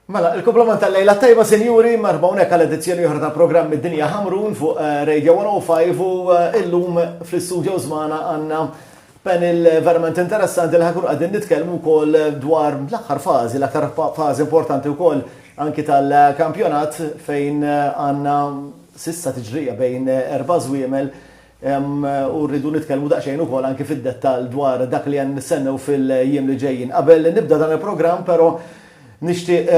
Mela, il-kumplament tal-lejla t-tajba sinjuri, marba unek għal edizzjoni oħra ta' programm id-dinja Hamrun fuq eh, Radio 105 u eh, illum fl-istudio zmana għanna panel eh, verament interessanti li ħakun għadin nitkellmu wkoll dwar l-aħħar fażi, l-aħħar fażi importanti wkoll anki tal-kampjonat fejn għanna sissa tiġrija bejn erba' żwiemel u rridu nitkellmu daqsxejn ukoll anki fid-dettall dwar dak li għandna nistennew fil-jiem li ġejjin. Qabel nibda dan il-programm però nixtieq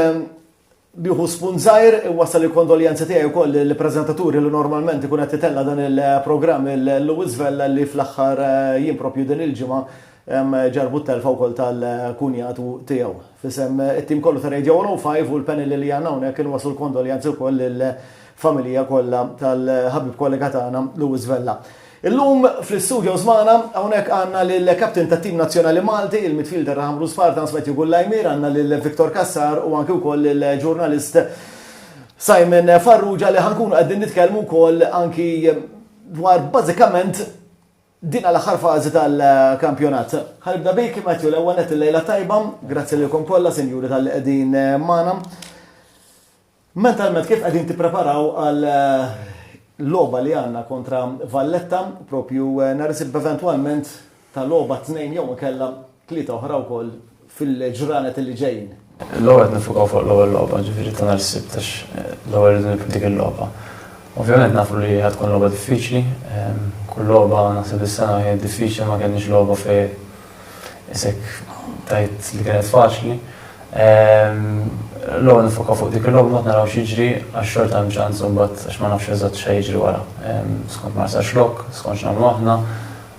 nieħu spunt żgħir inwassal il-kondoljanzi tiegħi wkoll lill-preżentaturi li normalment ikun qed itella' dan il-programm il-Louis Vella li fl-aħħar jiem propju din il-ġimgħa Hemm ġarrbut telfa wkoll tal-kunjatu tiegħu. F'isem it-tim kollu ta' Radio 105 u l-panel li għandna hawnhekk inwasslu l-kondoljanzi wkoll lill-familija kollha tal-ħabib kollega tagħna Louis Vella. Illum fl-istudios magħna hawnhekk għandna lill-captain tat-tim nazzjonali Malti, il-midfielder ta' Ħamrun Spartans Matthew Gullaymir, għandna lil Victor Cassar u anki wkoll lill-ġurnalist Simon Farrugia li ħa nkunu qegħdin nitkellmu wkoll anki dwar bażikament Din għal aħħar fażi tal-kampjonat. Ħa nibda bik Matthew, l-ewwel nett il-lejla tajba, grazzi lilkom kollha sinjuri talli qegħdin magħna. Mentalment kif qegħdin tippreparaw għal logħba li għandna kontra Valletta, propju nhar isib eventwalment ta' logħba tnejn jew inkella Tlieta oħra wkoll fil-ġranet li ġejjin. L-ewwel qed nifukaw fuq l-ewwel logħba, ġifieri ta' nhar is-Sibt għax eh, l-ewwel irridu nibdu dik il-logħba. Ovvjament nafu li ħad tkun logħba diffiċli, ehm, kull logħba naħseb is-sena kienet diffiċli ma kellniex logħba fej isek tajt li kienet faċli. Ehm, l-ewwel nifoka fuq dik il-logħba ma naraw xiġri għax xorta hemm ċans imbagħad għax ma nafx eżatt xejn jiġri wara. Ehm, skont ma sarx lok, skont x'nagħmlu aħna,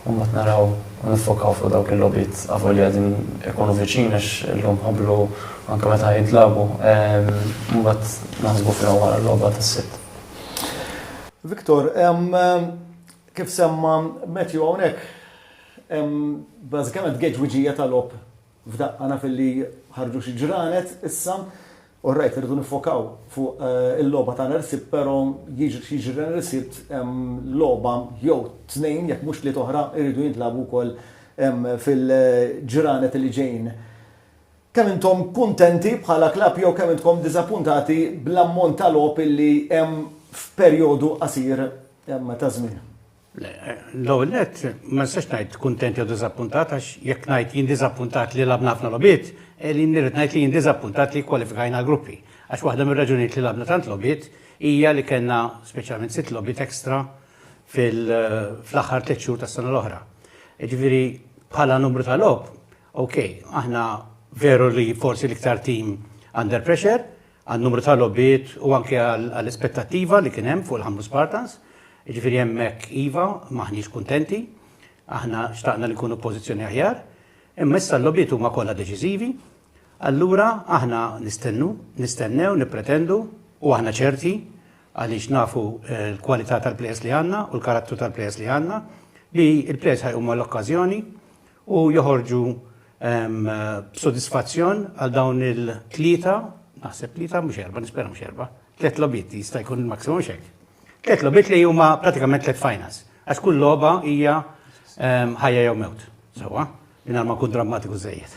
u mbagħad naraw u niffokaw fuq dawk il-logħbiet avolja qegħdin ikunu viċin għax illum ħablu anke meta jitlabu ehm, u mbagħad naħsbu fihom wara l-logħba tas-sitt. Viktor, ehm, kif semma Matthew hawnhekk ehm, bażikament geġwiġija tal-op f'daqqa naf li ħarġu xi ġranet issa All right, irridu niffokaw fuq il-logħba ta' nhar is-Sibt però jiġri nhar is-Sibt hemm logħba jew tnejn jekk mhux tlieta oħra jridu jintlagħbu wkoll fil-ġranet li ġejjin. Kemm intom kuntenti bħala klabb jew kemm intkom diżappuntati bl-ammont ta' logħob li hemm f'perjodu qasir ta' żmien? L-ewwel nett, ma nistax ngħid kuntent jew diżappuntat għax jekk ngħid jien diżappuntat li lagħbna ħafna logħbiet, qegħdin nirrid ngħid li jien diżappuntat li kkwalifikajna għall-gruppi. Għax waħda mir-raġunijiet li lagħbna tant logħbiet hija li kellna speċjalment sitt logħbiet extra fl-aħħar tliet xhur tas-sena l-oħra. Jiġifieri bħala numru ta' logħob, okej, aħna veru li forsi l-iktar tim under pressure, għan-numru ta' logħbiet u anke għall-ispettattiva li kien hemm fuq il-Ħamrun Spartans. Jiġifieri hemmhekk iva, m'aħniex kuntenti. Aħna xtaqna li nkunu f'pożizzjoni aħjar. Imma issa l-logħbiet huma kollha deċiżivi. Allura aħna nistennu, nistennew, nippretendu u aħna ċerti għaliex nafu l-kwalità tal-plejers li għandna u l-karattru tal-plejers li għandna li l-plejers ħajqumu għall-okkażjoni u joħorġu b'sodisfazzjon għal dawn il-tlieta, naħseb tlieta mhux erba', nispera mhux erba', tliet logħbiet jista' jkun il-maximum xek. Tliet logħbiet li huma pratikament tliet finals. Għax kull logħba hija ħajja jew mewt. Sewwa, minn ma kun drammatiku żejjed.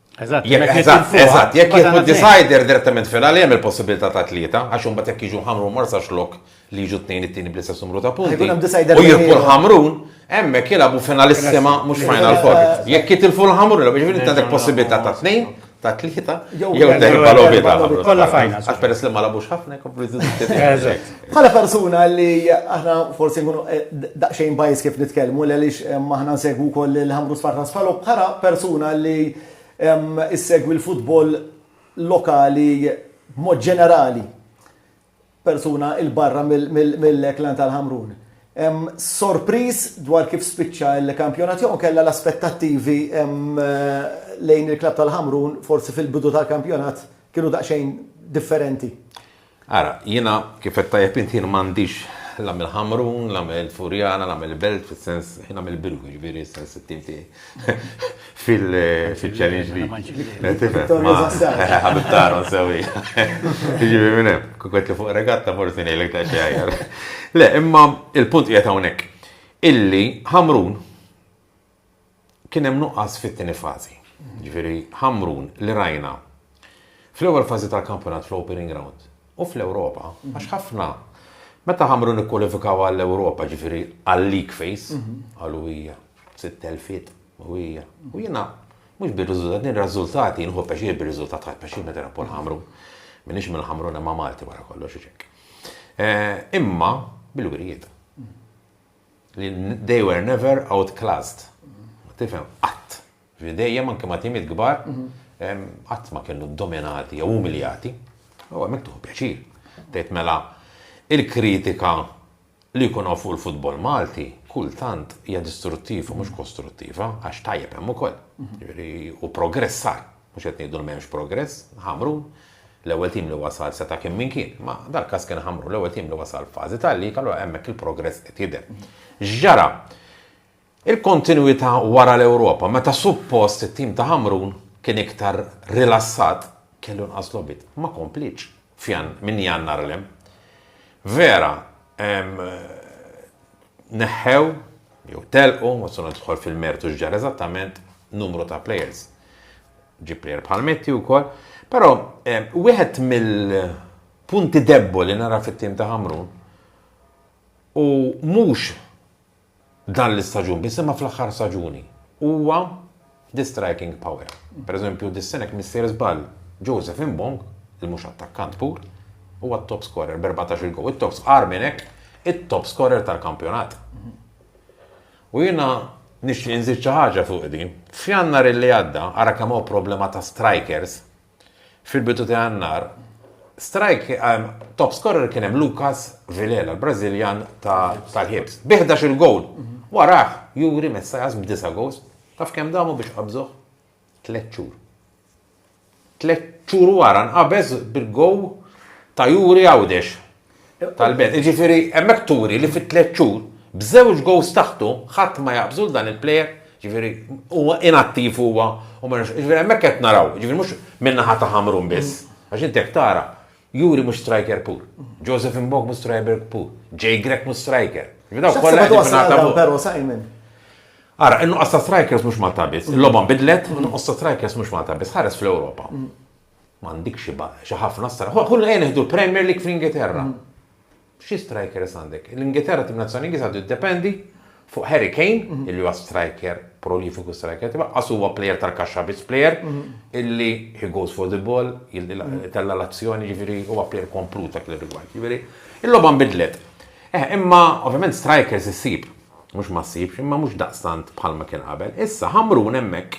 Eżatt, eżatt, jekk jieħu decider direttament fil-għal hemm il-possibilità ta' tlieta, għax imbagħad jekk jiġu ħamru marsa xlok li jiġu tnejn it-tieni bl-istess numru ta' punti. U jirpu l-ħamrun, hemmhekk jilagħbu finalissima mhux final four. Jekk jitilfu l-ħamrun, biex jiġifieri inti għandek possibilità ta' tnejn, ta' tlieta, jew terba' l-ovita. Kollha final. Għax peress li ma labux ħafna, jkomplu jżidu. Bħala persuna li aħna forsi nkunu daqsxejn bajs kif nitkellmu għaliex aħna nsegwu wkoll il-Ħamrun Sport ta' Sfalok, bħala persuna li ssegwi l-futbol lokali b'mod ġenerali, persuna 'il barra mill-Klan tal-Ħamrun, sorpriż dwar kif spiċċa l-kampjonat jew inkella l-aspettattivi lejn il-klabb tal-Ħamrun forsi fil-bidu tal-kampjonat kienu daqsxejn differenti? Ara, jiena, kif għedt tajjeb int, jien m'għandix la mill-Ħamrun, la mill-Furjana, la mill-Belt, fis-sens, jiena mill-biru, jiġifieri s-sens it-tim tiegħi fil-Challenge League. Tifhem? Ħabib t'Aaron sewwi. Jiġifieri minn hemm, kieku qed li fuq regatta forsi ngħidlek ta' xi aħjar. Le, imma l-punt qiegħed hawnhekk illi Ħamrun Kien hemm nuqqas fit-tieni fażi, jiġifieri Ħamrun li rajna fl-ewwel fażi tal-kampjonat fl-Opening Round u fl-Ewropa għax ħafna meta Ħamrun ikkwalifikaw għall-Ewropa, jiġifieri għal-league phase, qalu hija sitt telfiet u hija. U jiena mhux bir-riżultat, jien r-riżultati nieħu pjaċir bir-riżultat ħadt pjaċir meta nilgħab kull Ħamrun. M'iniex mill-Ħamrun imma Malti wara kollox u x'hekk. Imma bil-wirjiet. li they were never outclassed. Tifhem, qatt. Ġifieri dejjem anke ma' timiet kbar, qatt ma kienu dominati jew umiljati. U hemmhekk tieħu pjaċir. Tgħid mela il-kritika li jkun hawn fuq il-futbol Malti kultant hija distruttiva mhux kostruttiva għax tajjeb hemm ukoll. Ġifieri u progress sar. Mhux qed ngħidu li m'hemmx progress, Ħamrun, l-ewwel tim li wasal seta' kien min kien, imma dal-każ kien Ħamrun, l-ewwel tim li wasal f'fażi tal-lig, allura hemmhekk il-progress qed jidher. X'ġara? Il-kontinwità wara l-Ewropa, meta suppost it-tim ta' Ħamrun kien iktar rilassat, kellu nqas logħbiet, ma komplietx minn Jannar 'l hemm. Vera, neħħew jew telqu, ma sona tidħol fil-mertu x'ġar eżattament numru ta' players. Ġi player bħal Metti wkoll, però eh, wieħed mill-punti debbo li nara fit-tim ta' Ħamrun u mhux dan l-istaġun, biss imma fl-aħħar staġuni. Huwa Di striking power. Per eżempju, dis-sena jekk m'issir żball, Joseph Mbong, li mhux attakkant pur, huwa t-top scorer b'erbatax-il gowl. It-top, agħar minn hekk, it-top scorer tal-kampjonat. U jiena nixtieq inżid xi ħaġa fuq din. F'Jannar li għadda, ara kemm hawn problema ta' strikers, Fil-bidu ta' Jannar, strajk ehm, top scorer kien hemm Lucas Vilela, l-Brażiljan tal-Hibs, bi 11 il-gowl. Warah, Juri Messajas b'disa goals. Taf kemm damu biex qabżuh? Tlet xhur. Tlet xhur wara nqabeż bil-gow ta' Juri Għawdex. Tal-belt. Jiġifieri hemmhekk turi li fi tliet xhur b'żewġ goals taħtu ħadd ma jaqbżu dan il-plejer, jiġifieri huwa inattiv huwa u ma jiġifieri hemmhekk qed naraw, jiġifieri mhux min-naħa ta' Ħamrun biss. Għax inti jekk tara, Juri mhux striker pur, Joseph Mbok mhux striker pur, Jay Grech mhux striker. Ara, in-nuqqas ta' strikers mhux Malta biss, il-logħba nbidlet, in-nuqqas ta' strikers mhux Malta biss, ħares fl-Ewropa. M'għandikx xi ba, xi ħafna stra. Ħu ejja nieħdu l-Premier League fl-Ingilterra. Xi strikers għandek? L-Ingilterra tim nazzjonali Ingliż għadu jiddependi fuq Harry Kane, mhm. illi huwa striker, prolifiku striker, tiba għas huwa player tal-kaxxa biss player, mhm. illi he goes for the ball, mhm. tella l-azzjoni, ġifiri huwa player komplut dak l-rigward. Ġifiri, il-logħba nbidlet. Eh, imma ovvjament strikers issib, mhux ma ssibx, imma mhux daqstant bħalma kien qabel. Issa ħamrun hemmhekk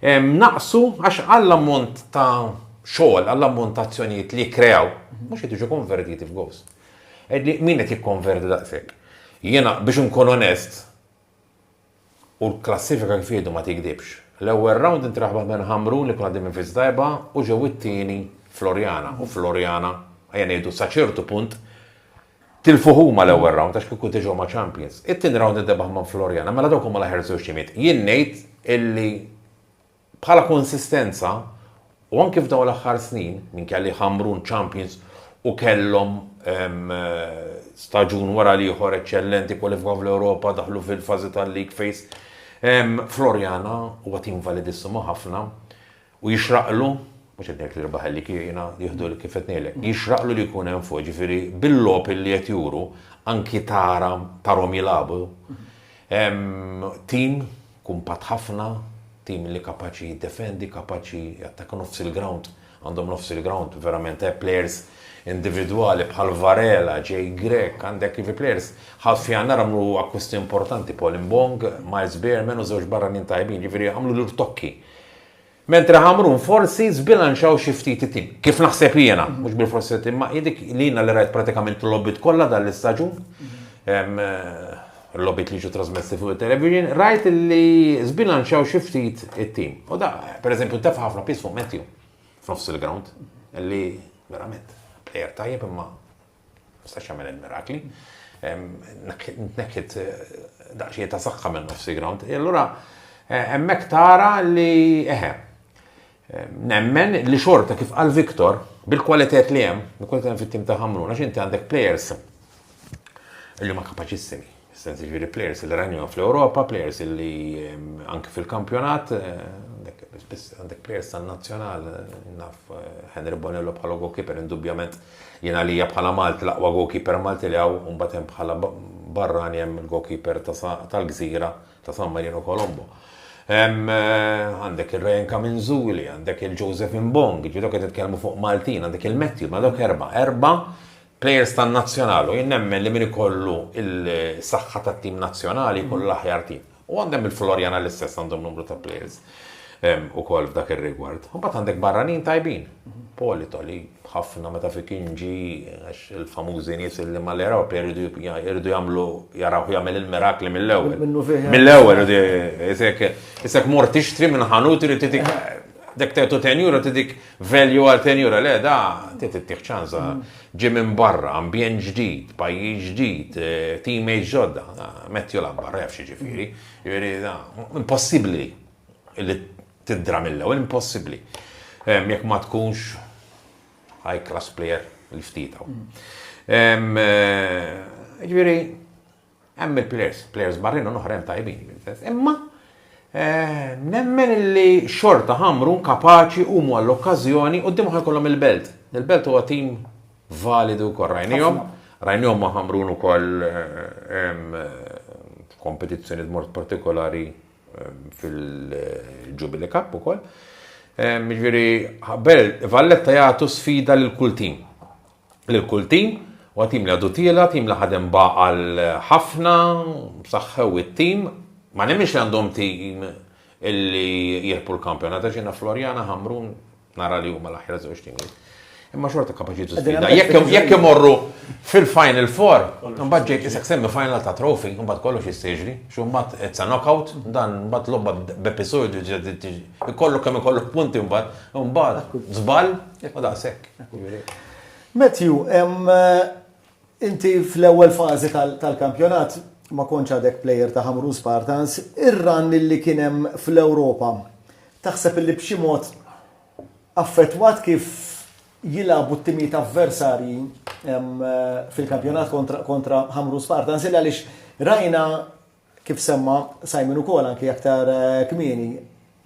Naqsu għax għall-ammont ta' xogħol, għall-ammont ta' azzjonijiet li jikkreaw, mhux qed jiġu konvertiti f'gowls. Qegħdi min qed jikkonverti daqshekk? Jiena biex inkun onest, u l-klassifika kif jgħidu ma tigdibx. L-ewwel round inti reħbaħ minn Ħamrun li kien għaddej minn fiż tajba u ġew it-tieni Floriana. U Floriana, ejja ngħidu sa ċertu punt, Tilfu huma l-ewwel round għax kieku diġa huma champions. It-tieni round indebaħ minn Floriana, mela dawk huma l-aħjar żewġ timiet. Jien ngħid illi bħala konsistenza u anki f'dawn l-aħħar snin, minkejja li Ħamrun champions u kellhom staġun wara l-ieħor eċċellenti, kwalifikaw fl-Ewropa, daħlu fil-fażi tal-league phase, Floriana huwa tim validissimo ħafna. U jixraqlu, mhux qed ngħid li rebaħ il-lik, jiena jieħdu li kif qed ngħidlek, jixraqlu li jkun hemm fuq, jiġifieri bil-logħob li qed juru, anki tara, tarhom jilagħbu, tim kumpatt ħafna, tim li kapaċi jiddefendi, kapaċi jattakka nofs il-grawnd, għandhom nofs il-grawnd verament eh, players individwali bħal Varela, Jay Grek, għandek ivi players, ħadd fi għandar għamlu akkusti importanti, Paul Mbong, Miles Beerman u żewġ barranin tajbin, ġifieri għamlu l-urtokki. Mentre Ħamrun forsi żbilanċaw xi ftit it-tim. Kif naħseb jiena, mhux bilfors it-tim, imma hi dik li jiena li rajt pratikament il-logħbiet kollha dan l-istaġun, il-logħbiet li ġew trasmessi fuq it-television, rajt li żbilanċaw xi ftit it-tim. U da, pereżempju, ntefa' ħafna piż fuq Matthew f'nofs il-ground, li verament plejer tajjeb imma Jistax jagħmel il-mirakli. Tnekkit daqsxejn ta' saħħa minn nofsi ground. E allura hemmhekk tara li eħe. Nemmen li xorta kif għal Viktor, bil-kwalitet li hemm, bil-kwalitet fit-tim ta' Ħamruna, x'inti għandek players li ma kapaċissimi. Sens jiġifieri plejers li rajnihom fl-Ewropa, plejers li anke fil-kampjonat, spiss għandek plejers tan-nazzjonal, naf Henry Bonello bħala goalkeeper indubjament jien għalija bħala Malti l-aqwa goalkeeper Malti li hawn u mbagħad hemm bħala barrani hemm il-goalkeeper tal-gżira ta' San Marino Colombo. Għandek il-Ryan Kaminzuli, għandek il-Joseph Mbong, ġidok qed titkellmu fuq Maltin, għandek il-Matthew, ma dawk erba, erba Players tan-Nazzjonal u jien nemmen li min ikollu l-saħħa tat-tim Nazzjonali jkollu l-aħjar tim. U għandem il-Floriana l-istess għandhom numru ta' players ukoll f'dak ir-rigward. Imbagħad għandek barranin tajbin. Polito li ħafna meta fi kinġi għax il-famużi nies li ma l-eraw jridu jagħmlu jaraw jagħmel il-mirakli mill-ewwel. Mill-ewwel isek mort tixtri minn ħanut irid titik dek tetu tenjura tidik Value għal tenjura, le da, tit ittieħ ċansa, ġi minn barra, ambjent ġdid, pajjiż ġdid, eh, teammates ġodda, metti u labbar, ref xi ġifieri, ġifieri da, impossibbli li tiddra mill-ewwel, impossibbli. Jekk ma tkunx high class player l-ftitaw. Eh, ġifieri, Hemm il-players, players barranin u oħrajn tajbin, imma nemmen li xorta Ħamrun kapaċi huma l-okkażjoni quddiem ħa jkollhom il-Belt. Il-Belt huwa tim validu wkoll rajnihom, rajnihom ma' Ħamrun ukoll kompetizzjoni b'mod partikolari fil-Jubilee Cup ukoll. Ġifieri, Valletta jagħtu sfida lil kull tim. lil kull tim u għal tim li għadu tiela, tim li ħadem ba' għal ħafna, saħħew it-tim, ma nemminx li għandhom tim illi jirpu l-kampjonat, għax jiena Florjana, Ħamrun, nara li huma l-aħjar żewġ timijiet. Imma xorta kapaċi tużbida. Jekk imorru fil-Final Four, mbagħad ġejt isek semmi final ta' trofi, mbagħad kollox jissiġri, xummat it's a knockout, dan mbagħad lobba b'episodju ikollok kemm ikollok punti mbagħad, mbagħad żball, u daqshekk. Matthew, inti fl-ewwel fażi tal-kampjonat ma kontx għadek plejer ta' Ħamrun Spartans, ir-run li kien hemm fl-Ewropa taħseb illi b'xi mod affettwat kif jilagħbu t-timijiet avversarji fil-kampjonat kontra Ħamrun Spartans? Illi għaliex rajna Kif semma Simon ukoll anki aktar kmieni,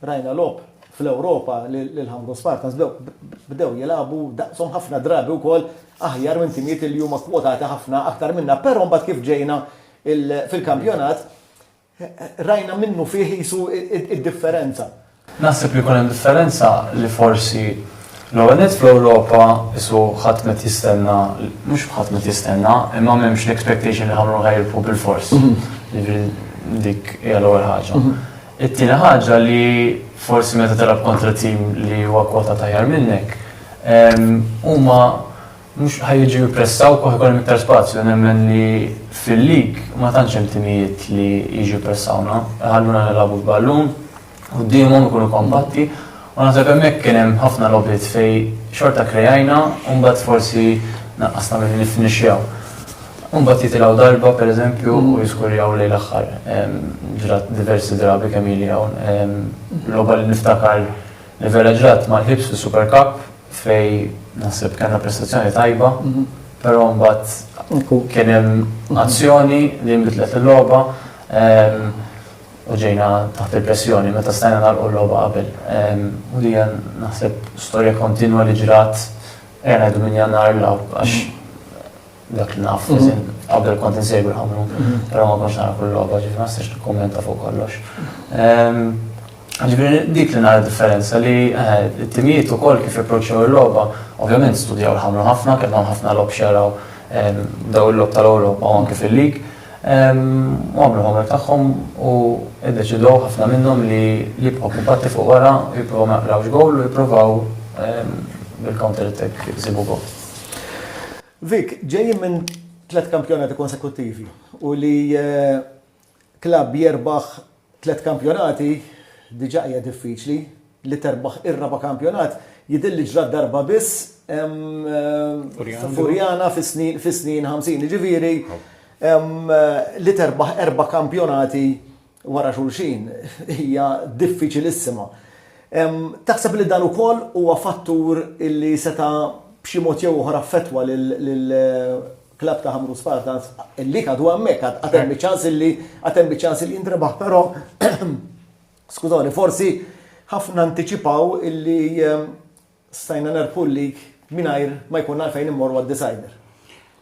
rajna logħob fl-Ewropa li l-Hamrun Spartans bdew jilagħbu daqshom ħafna drabi wkoll aħjar minn timijiet li huma kwotati ħafna aktar minna, però mbagħad kif ġejna fil-kampjonat rajna minnufih qisu d-differenza. Naħseb li jkun hemm differenza li forsi l-ewwel nett fl-Ewropa qisu ħadd m'qed jistenna, mhux ħadd m'qed jistenna, imma m'hemmx l-expectation li ħa mmorru ħajjirbħu bilfors. Jiġifieri dik hija l-ewwel ħaġa. It-tieni ħaġa li forsi meta tilgħab kontra tim li huwa kwotat aħjar minnek, huma, Mhux ħa jiġu jippressawk u ħa jkollhom iktar spazju. Nemmen li fil-lig ma tantx hemm timijiet li jiġu jippressawna, iħalluna nilagħbu bil-ballun quddiemhom, ikunu kompatti u naħseb hemmhekk kien hemm ħafna logħbiet fejn xorta krejajna u mbagħad forsi naqqasna milli niffinixxjaw. U mbagħad jitilgħu darba, pereżempju, u jiskurjaw lejn l-aħħar. Ġrat diversi drabi kemm ili hawn. Logħba li niftakar li vera ġrat mal-Hibs fis-Super Cup, fejn naħseb kellna prestazzjoni tajba, però mbagħad kien hemm azzjoni li nbidlet il-logħba u ġejna taħt il-pressjoni meta stajna nagħlqu l-logħba qabel. Ehm, u li naħseb storja kontinwa li ġrat għena ngħidu minn jannar l-law għax dak li naf, mhm. qabel kont insegwi ħamru, mhm. pero ma konx nara kull logħba, ġifri ma nistax nikkummenta fuq kollox. Ehm, ġifri dik li nara differenza li eh, t-timijiet u koll kif approċċaw il-logħba, ovvjament studjaw l-ħamru ħafna, kellhom ħafna lob xeraw ehm, daw il-lob tal-Ewropa u anke fil-lig. Ehm, u għamlu ħamru tagħhom u id-deċidu ħafna minnhom li li bħu kumpatti fuq wara, jipprovaw ma jaqrawx gol u jipprovaw bil-counter attack jisibu gol. Vic, ġejjin minn tliet kampjonati konsekuttivi u li klabb jerbaħ tliet kampjonati diġà hija diffiċli, li terbaħ ir-raba' kampjonat jidhir li ġrat darba biss f'Furjana fis-snin ħamsin. Jiġifieri li terbaħ erba' kampjonati wara xulxin hija diffiċilissima. Taħseb li dan ukoll huwa fattur li seta' b'xi mod jew ieħor affettwa lill-klabb ta' Ħamrun Spartans li għadu hemmhekk, għad hemm iċ-ċans li għad hemm iċ-ċans li jintrebaħ però skużawni forsi ħafna antiċipaw li stajna nerbħu l-lig mingħajr ma jkollna għalfejn immorru għad-decider.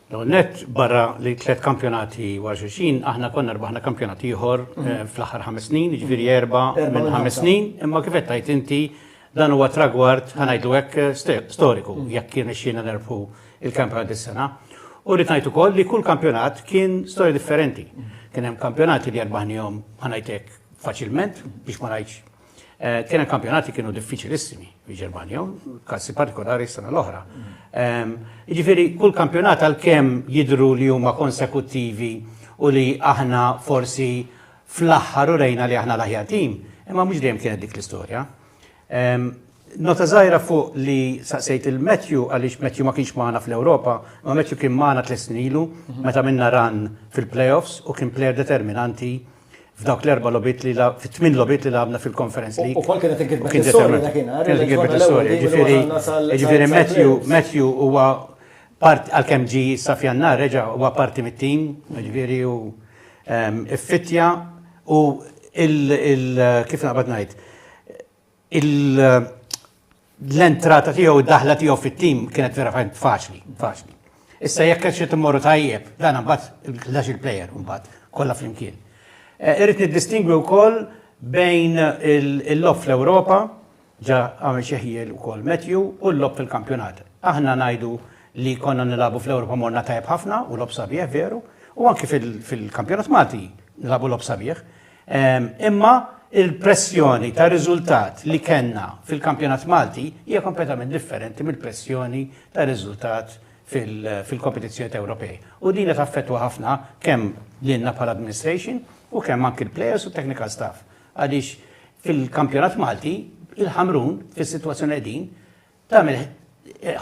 L-ewwel nett barra li tliet kampjonati wara xulxin, aħna konna rbaħna kampjonat ieħor mhm. eh, fl-aħħar ħames snin, jiġifieri erba' minn ħames snin, imma kif qed tgħid inti dan huwa tragward ħanajdu hekk eh, storiku mhm. jekk kien ixxina nerfu il-kampjonat dis-sena. U rrid ngħid ukoll li kull kampjonat kien storja differenti. Mhm. Kien hemm kampjonati li erbaħnihom ħanajtek faċilment biex ma ngħidx Eh, kien hemm kampjonati kienu diffiċilissimi fil-Ġermanja, kassi partikolari s-sena l-oħra. Ehm, jiġifieri kull kampjonat għalkemm jidru li huma konsekuttivi u li aħna forsi fl-aħħar u rejna li aħna l-aħjar tim, imma mhux dejjem kienet dik l-istorja. Ehm, nota żgħira fuq li saqsejt il-Matthew għaliex Matthew ma kienx magħna fl-Ewropa, ma Matthew kien magħna tles snilu meta minna ran fil-playoffs u kien player determinanti f'dawk l-erba' logħbiet li fit-tmien logħbiet li lagħabna fil-Conference League. Ukoll kienet inkitbet is-sorja dakinhar. Kienet inkitbet is-sorja, ġifieri jiġifieri Matthew, Matthew huwa part għalkemm ġi sa f'Jannar reġa' huwa parti mit-tim, jiġifieri hu ffittja u kif naqbad ngħid, l-entrata tiegħu u d-daħla tiegħu fit-tim kienet vera fajn faċli, faċli. Issa jekk qed xi timmorru tajjeb, dan imbagħad il-ħlax il-plejer imbagħad kollha flimkien. Eh, irrid niddistingwi wkoll bejn il-lob fl-Ewropa, ġa għamil xeħjiel ukoll Matthew, u l-lob fil-kampjonat. Aħna ngħidu li konna nilabu fl-Ewropa morna tajjeb ħafna u lob sabiħ veru, u anki fil-kampjonat Malti nilabu lob sabiħ. Imma il-pressjoni ta' riżultat li kellna fil-kampjonat Malti hija kompletament differenti mill-pressjoni ta' riżultat fil-kompetizzjoni ta' Ewropej. U din qed affettwa ħafna kemm lilna bħala administration u kemm anki l-players u technical staff. Għaliex fil-kampjonat Malti, il-Ħamrun fis-sitwazzjoni qegħdin, tagħmel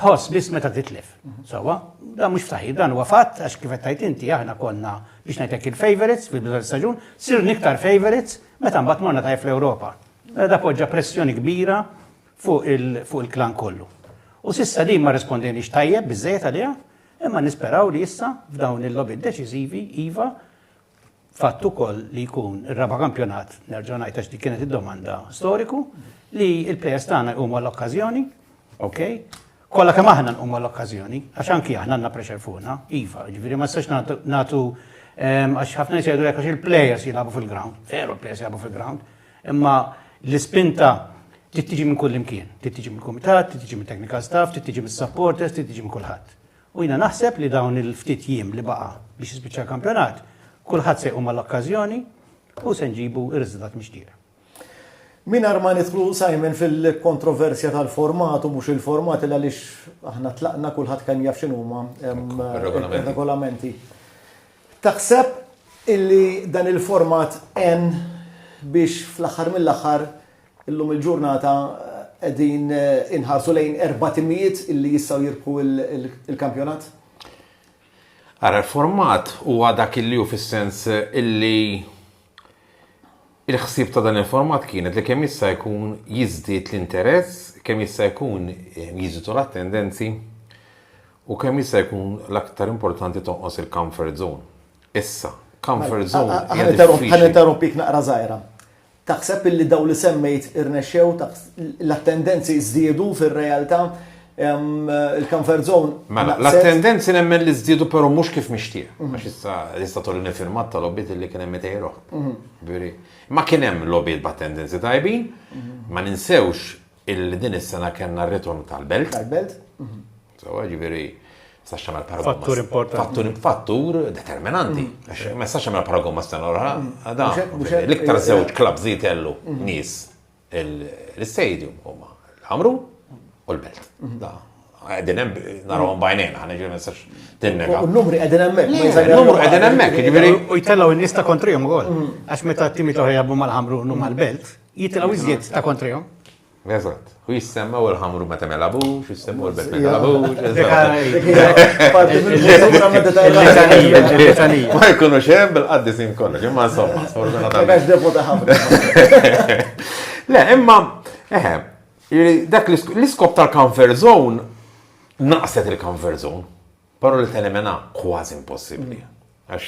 ħoss biss meta titlef. Sawa, dan mhux ftaħi, dan huwa fatt għax kif qed inti aħna konna biex ngħidlek il-favorites fil-bidu tal-staġun, sir niktar favorites meta mbagħad morna tajf l-Ewropa. Mela da poġġa pressjoni kbira fuq il-klan kollu. U sissa din ma rispondini tajjeb biżejjed għaliha, imma nisperaw li issa f'dawn il-lobby deċiżivi iva Fatt ukoll li jkun ir-raba' kampjonat, nerġa' ngħid għax dik kienet id-domanda, storiku li l-plejers tagħna jqumu għall-okkażjoni, okej, kollha kemm aħna nqumu għall-okkażjoni, għax anki aħna għandna pressure fuqna, iva, jiġifieri ma nistax nagħtu ehm, għax ħafna nies jgħidu għax il-plejers jilagħbu fil-ground, veru l-plejers jilagħbu fil-ground, imma l-ispinta tittiġi minn kull imkien, tittiġi mill-kumitat, tittiġi mit-technical staff, tittiġi mis-supporters, tittiġi minn kulħadd. U jiena naħseb li dawn il-ftit jiem li baqa' biex jispiċċa l-kampjonat, kulħadd se jqum għall-okkażjoni u se nġibu r-riżultat mixtieq. Mingħajr ma nidħlu, Simon, fil-kontroversja tal-format u mhux il-format il għaliex aħna tlaqna kulħadd kemm jaf x'inhuma regolamenti. Taħseb illi dan il-format en biex fl-aħħar mill-aħħar Illum il-ġurnata qegħdin inħarsu lejn erba' timijiet li jistgħu jirbħu l-kampjonat? Ara l-format huwa dak li hu fis-sens illi il-ħsieb ta' dan il-format kienet li kemm jista' jkun jiżdied l-interess, kemm jista' jkun eh, jiżidu l-attendenzi u kemm jista' jkun l-aktar importanti tonqos il-comfort zone. Issa, comfort mela, zone. Ħan interrompik naqra żgħira. Taħseb illi dawn li semmejt irnexxew? L-attendenzi żdiedu fir-realtà? il-comfort zone. Mela, l-attendenzi nemmen li żdiedu però mhux kif mixtieq. Mhm. Għax issa issa tolli nifirmat ta' lobbiet li kien hemm itejroħ. Mhm. Ma kien hemm lobbiet b'attendenzi tajbin, mhm. ma ninsewx Illi din is-sena kellna r-ritorn tal-belt. Tal-belt. Sewa, ġifieri, sax tagħmel paragun. Fattur importanti. Fattur, fattur determinanti. Mm. Għax ma sax tagħmel paragun ma sena l-oħra. Mm. L-iktar żewġ klabs li jtellu mm. nies l-istadium huma l-Amru u l-Belt. Da, għedin hemm narawhom bajnejna, ħana ġifieri ma sax tinnega. U l-numri qegħdin hemmhekk. L-numru qegħdin hemmhekk, ġifieri. U jtellgħu n-nies ta' kontrihom ukoll. Għax meta t-timi toħra jabbu mal-Amru u mal-Belt. Jitilgħu iżjed ta' kontrihom. Eżatt. U jissemma u l-ħamru ma temel abux, jissemma u l-bet temel abux. Ma jkunu xem bil-qaddi sin kollox, imma insomma, sfortuna ta' biex defu ta' ħamru. Le, imma, eħe, dak l-iskop tal-comfort zone naqset il-comfort zone. Però li teliminha kważi impossibbli. Għax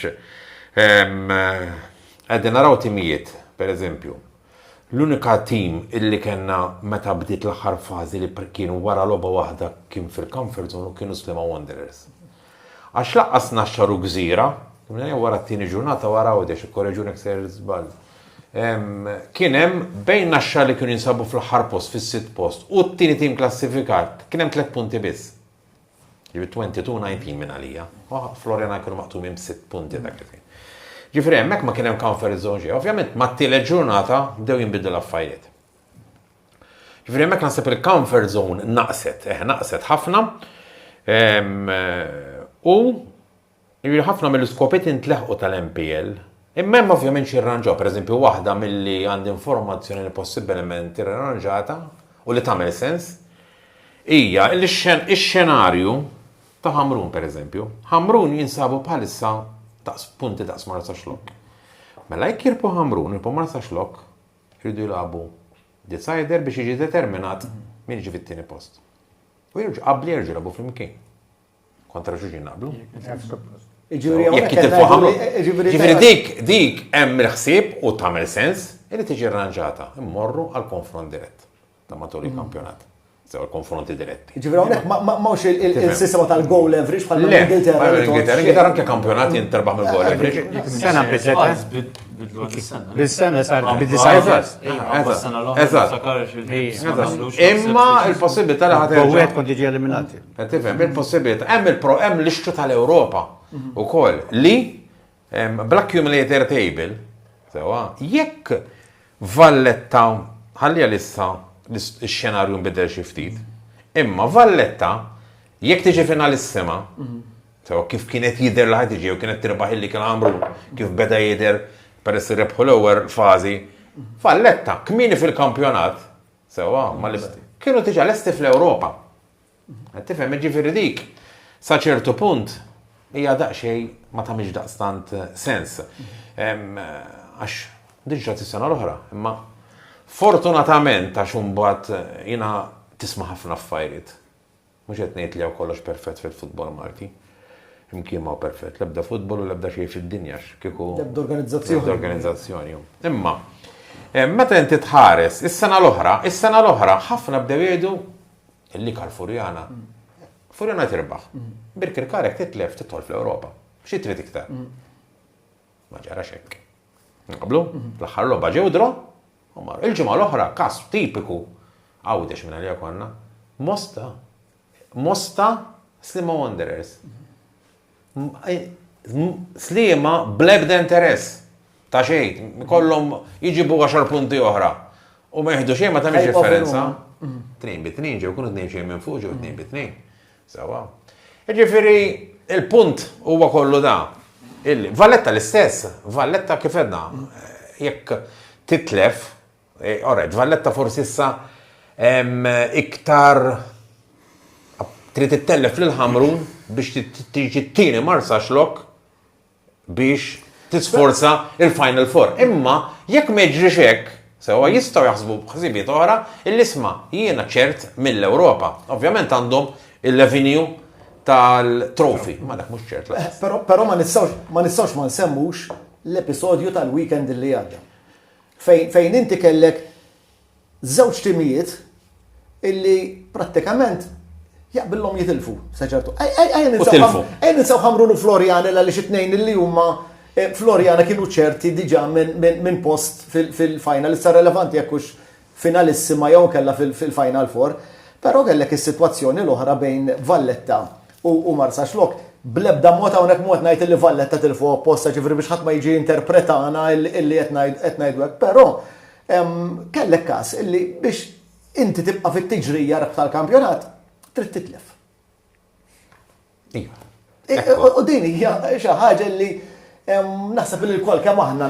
qegħdin naraw timijiet, pereżempju, l-unika tim illi kellna meta bdiet l-aħħar fażi li kienu wara logħba waħda kien fil-comfort zone u kienu Sliema Wanderers. Għax lanqas Naxxar u Gżira, wara t-tieni ġurnata wara Għawdex, ikkoreġuni jekk sejjer żball, kien hemm bejn Naxxar li kienu jinsabu fl-aħħar post, fis-sitt post, u t-tieni tim klassifikat, kien hemm tliet punti biss. Jiġifieri 22 19 minn għalija. Floriana jkunu maqtumin b'sitt punti dak li fejn. Ġifieri hemmhekk ma kien hemm comfort zone xejn. Ovvjament mat-tielet ġurnata bdew jinbidlu l-affarijiet. Ġifieri hemmhekk naħseb il-comfort zone naqset, eh naqset ħafna. U Jiġifieri ħafna mill-iskopiet intleħqu tal-MPL, imma hemm ovvjament xi rranġaw. Pereżempju, waħda milli għandi informazzjoni li possibbilment irranġata u li tagħmel sens hija li x-xenarju ta' Ħamrun pereżempju. Ħamrun jinsabu bħalissa daqs punti daqs Marsa Xlokk. Mela jekk jirbħu Ħamrun, jirbħu Marsa Xlokk, jridu jilagħbu decider biex jiġi determinat min jiġi fit-tieni post. U jerġgħu qabli jerġgħu jilagħbu flimkien. Kontra xulxin naqblu. Jekk jitilfu ħamlu. Ġifieri dik dik hemm il-ħsieb u tagħmel sens li tiġi rranġata. Immorru għal konfront dirett ta' matul il-kampjonat. Sew il-konfronti diretti. Ġifieri hawnhekk m'hawnx il-sistema tal-goal average bħal l-Ingilterra. L-Ingilterra anke kampjonat jinterbaħ mill-goal average. Sena biżgħet. Bil-sena sar bil-disajfas. Imma il-possibilità li ħadd. Għawet kont iġi eliminati. Qed tifhem, il-possibilità, hemm il-pro, hemm l-ixtru tal-Ewropa ukoll li bl-accumulator table, sewa, jekk Valletta ħalli għalissa x-xenarju nbidel xi ftit, imma Valletta jekk tiġi finalissima, sewa kif kienet jidher li ħad tiġi u kienet tirbaħ illi kien għamru kif beda jidher peress rebħu l-ewwel fażi, Valletta kmini fil-kampjonat, sewa, kienu tiġa lesti fl-Ewropa. Tifhem, jiġifieri dik sa ċertu punt hija daqsxejn ma tagħmilx daqstant eh, sens. Għax din ġrat is-sena l-oħra, imma fortunatament għax imbagħad eh, jiena tisma' ħafna affarijiet. Mhux qed ngħid li hawn kollox perfett fil-futbol Malti. Imkien ma perfett, l-ebda futbol u l-ebda xejn fid-dinja kieku. L-ebda organizzazzjoni. L-ebda organizzazzjoni. Imma eh, meta inti tħares is-sena l-oħra, is-sena l-oħra ħafna bdew jgħidu l-ikar Furjana. Furjana tirbaħ. Birkirkar jekk titlef tidħol fl-Ewropa. Xi trid iktar? Ma ġarax hekk. Naqblu, fl-aħħar logħba ġew dro, u marru. Il-ġimgħa l-oħra każ tipiku għawdex minn għalija konna. Mosta. Mosta Slima Wanderers. Sliema bl-ebda interess ta' xejn, kollhom jiġibu 10 punti oħra. U ma jieħdu xejn ma tagħmilx differenza. Tnejn bi tnejn ġew kunu tnejn xejn minn fuq ġew tnejn bi tnejn. Sawa. Ġifieri il-punt huwa kollu da. Valletta l-istess, Valletta kif edna, jekk titlef All right, Valletta forsi issa iktar trid ittellef lil ħamrun biex tiġi t-tieni marsa xlok biex tisforza il-Final Four. Imma jekk ma jiġrix hekk, sewa jistgħu jaħsbu b'ħsibiet oħra l-isma jiena ċert mill-Ewropa. Ovvjament għandhom il-revenue tal-trofi. Ma dak mhux ċert. Eh, però ma nistgħux ma nsemmux l-episodju tal-weekend li għadda. fejn fejn inti kellek żewġ timijiet illi prattikament jaqbillhom jitilfu sa ċertu. Ejja ninsaw ħamrun u Floriana għaliex it-tnejn illi huma eh, Floriana kienu ċerti diġà minn post fil-final issa relevanti jekk hux finalissima jew inkella fil-final four, però kellek is-sitwazzjoni l-oħra bejn Valletta u Marsaxlokk, bl-ebda mod hawnhekk mhu qed ngħid illi Valletta tilfu apposta, ġifieri biex ħadd ma jiġi jinterpretana illi qed ngħidu hekk, però kellek każ illi biex inti tibqa' fit-tiġrija rebħ tal-kampjonat trid titlef. U din hija xi ħaġa li naħseb li l-kol kemm aħna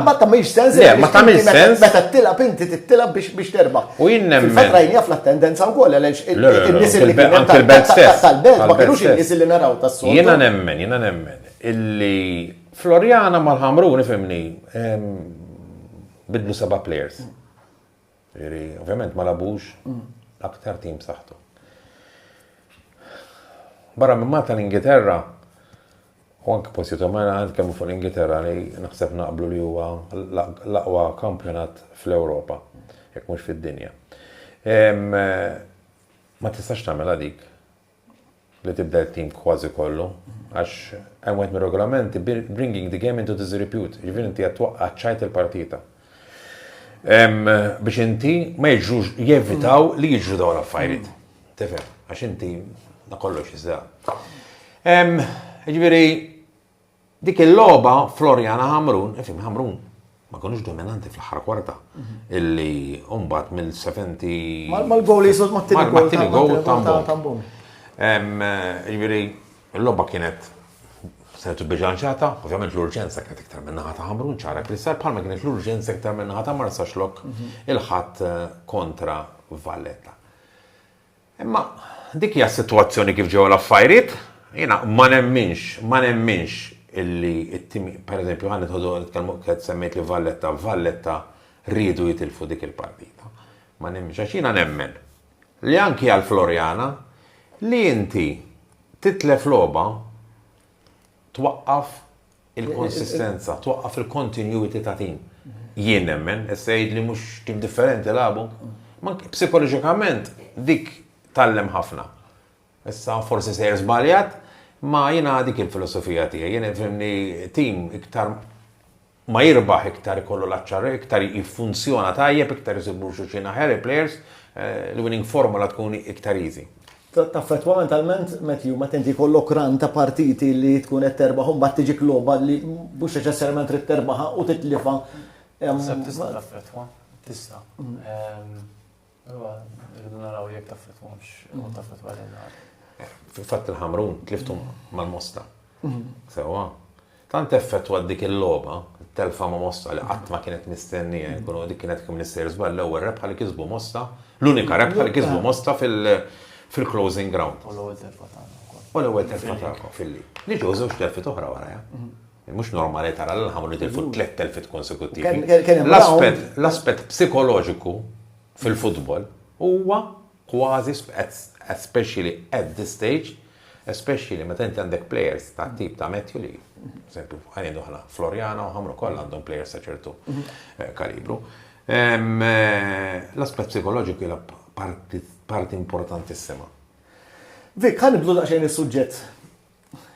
ma tagħmilx sens. Le, ma tagħmilx sens. Meta tilab inti tittilab biex biex terbaħ. U jien nemmen. Fatra jien jaf l-attendenza wkoll għaliex in-nies li kienu tal-belt stess. Tal-belt ma kinux in-nies li naraw tas-sol. Jiena nemmen, jiena nemmen illi Floriana mal-ħamruni fimni bidlu seba' players. Ġifieri, ovvjament ma lagħbux l-aktar tim b'saħħtu. Barra minn Malta l-Ingilterra u anke postijiet oħrajn għand kemm fuq l-Ingilterra li naħseb naqblu li huwa l-aqwa kampjonat fl-Ewropa, jekk mhux fid-dinja. Ma tistax tagħmilha dik. li tibdel it-tim kważi kollu għax hemm wieħed mir-regolamenti bringing the game into disrepute, jiġifieri inti qed twaqqa' ċ-ċajt il-partita. Biex inti ma jiġrux jevitaw li jiġru dawn l-affarijiet. Tifhem, għax inti kollox iżda. Jiġifieri Dik il-logħba Floriana Ħamrun, ifim Ħamrun, ma konux dominanti fl-aħħar kwarta illi mbagħad mill-70 Mal-gowl jisod mat-tieni gowl mat-tieni gowl ta' Mbon. ta' Mbon. Em, Jiġifieri l-logħba kienet setu bilanċata, ovvjament l-urġenza kienet iktar minn naħa ta' Ħamrun ċara Kristall bħalma kienet l-urġenza iktar minn naħa ta' Marsaxlokk il-ħadd eh, kontra Valletta. Imma dik hija s-sitwazzjoni kif ġew l-affajriet. Jiena ma nemminx, ma nemminx illi t-tim, per eżempju, ħa nidħodu nitkellmu qed semmejt li Valletta, Valletta riedu jitilfu dik il-partita. Ma nemminx, għax jiena nemmen li anki għal Floriana li inti titlef logħba twaqqaf il-konsistenza, twaqqaf il-continuity ta' tim. Jien nemmen, issa jgħidli mhux kif differenti lagħbu. Ma psikoloġikament dik tallem ħafna. Issa forsi sejr żbaljat, ma jiena dik il-filosofija tiegħi. Jien fimni tim iktar ma jirbaħ iktar ikollu l-aċċarri, iktar jiffunzjona tajjeb, iktar jisibu xuxin aħjar il-players, eh, l-winning formula tkun iktar easy. taffettwa mentalment metju meta inti jkollok run ta' partiti li tkun qed terbaħ u mbagħad tiġik logħba li mhux neċessarjament trid terbaħha u titlifha. Naħseb tista' taffettwa, tista'. Allura rridu naraw jekk taffettwahomx u taffettwa lil Fil-fatt il-Ħamrun tliftu mal-Mosta. Sewwa. Tant effettwat dik il-logħba, it-telfa ma' Mossa li qatt ma kienet mistennija jkunu dik kienet kif Minister żball l-ewwel rebħa li kisbu Mossa, l-unika rebħa li kisbu Mossa fil-closing ground. U l-ewwel telfa tagħna wkoll. U l-ewwel telfa tagħkom fil-li. Li ġew żewġ telfiet oħra warajha. Mhux normali tara lil Ħamrun jitilfu tliet telfiet konsekuttivi. L-aspett psikoloġiku fil-futbol huwa kważi especially at this stage, especially meta inti għandek players tat-tip ta' Matthew li, eżempju, ħa ngħidu aħna Floriana u Ħamru kollha għandhom players ta' ċertu eh, kalibru. Ehm, eh, l-aspett psikoloġiku hija parti importantissima. Vik, ħan nibdlu daqsxejn is-suġġett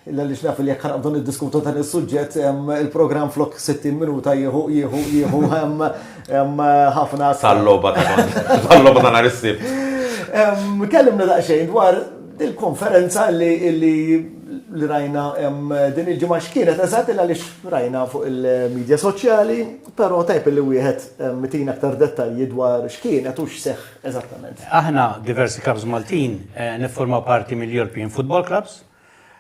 Illa li xnaf li jekk ħanqbdu niddiskutu dan is-suġġett il-programm flok 60 minuta jieħu jieħu jieħu hemm ħafna tal-logħba tal-logħba ta' nhar is-sibt. Kellimna daqsxejn dwar il-konferenza li li rajna din il-ġimgħa x'kienet eżatt illa li rajna fuq il-medja soċjali, però tajb li wieħed mitin aktar dettalji dwar x'kienet u x'seħħ Eżattament. Aħna diversi clubs Maltin niffurmaw parti mill-European Football Clubs